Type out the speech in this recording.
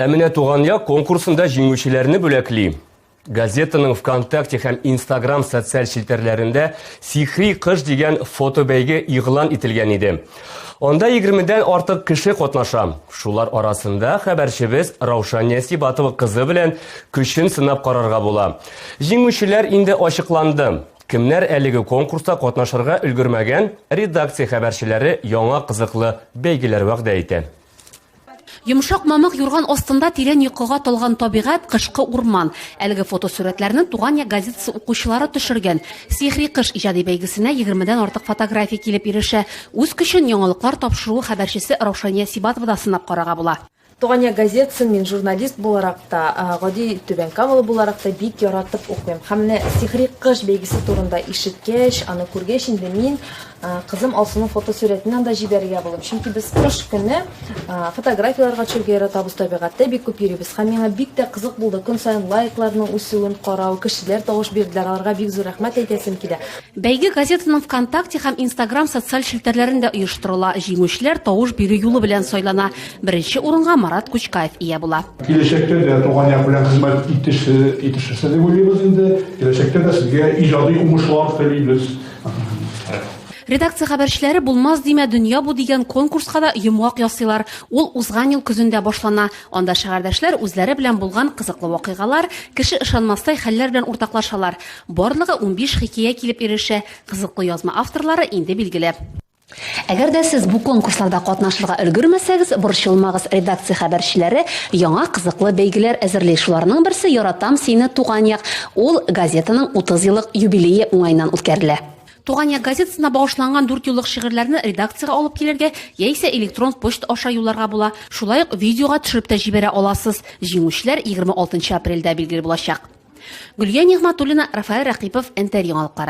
Ә менә туган як конкурсында җиңүчеләрне бүләкли. Газетаның ВКонтакте һәм Инстаграм социаль челтәрләрендә Сихри кыш дигән фотобәйге игълан ителгән иде. Анда 20-дән артык кеше катнаша. Шулар арасында хәбәрчебез Раушан Нәсибатова кызы белән көчен сынап карарга була. Җиңүчеләр инде ачыкланды. Кемнәр әлеге конкурста катнашырга өлгермәгән, редакция хәбәрчеләре яңа кызыклы бәйгеләр вәгъдә итә. Йомшак мамык юрган астында тирән йокыга талган табигать, кышкы урман. Әлеге фотосурәтләрне Туган як газетасы укучылары төшергән. Сихри кыш иҗади бәйгесенә егермедән артык фотография килеп ирешә. Үз көчен яңалыклар тапшыруы хәбәрчесе Раушания Сибатова да сынап карарга була. Туган як газетасын мин журналист буларак та, гади Түбән Камалы буларак та бик яратып укыйм. Һәм менә Сихри кыш бәйгесе турында ишеткәч, аны күргәч инде мин Кызым Алсуның фотосурәтен анда җибәрергә булдым, чөнки без кыш көне фотографияләргә төшәргә яратабыз, табигатьтә бик күп йөрибез. Һәм миңа бик тә кызык булды көн саен лайкларның үсүен карау, кешеләр тавыш бирделәр, аларга бик зур рәхмәт әйтәсем килә. Бәйге газетаның ВКонтакте һәм Инстаграм социаль челтәрләрендә оештырыла, җиңүчеләр тавыш бирү юлы белән сайлана. Беренче урынга Марат Кучкаев ия була. Киләчәктә дә Туган як белән хезмәт итешерсез дип уйлыйбыз инде. Киләчәктә дә сезгә иҗади уңышлар телибез. Редакция хәбәрчеләре Булмас димә, дөнья бу дигән конкурска да йомгак ясыйлар. Ул узган ел көзендә башлана. Анда шәһәрдәшләр үзләре белән булган кызыклы вакыйгалар, кеше ышанмастай хәлләр белән уртаклашалар. Барлыгы унбиш хикәя килеп ирешә. Кызыклы язма авторлары инде билгеле. Әгәр дә сез бу конкурсларда катнашырга өлгермәсәгез, борчылмагыз, редакция хәбәрчеләре яңа кызыклы бәйгеләр әзерли. Шуларның берсе Яратам сине, Туган як. Ул газетаның 30 еллык юбилее уңаеннан үткәрелә. Туган як газетасына багышланган дүртьюллык шигырьләрне редакциягә алып килергә яисә электрон почта аша юлларга була. Шулай ук видеога төшереп тә җибәрә аласыз. Җиңүчеләр 26 апрельдә билгеле булачак. Гөлия Нигъмәтуллина, Рафаэль Рәкыйпов, НТР яңалыклары.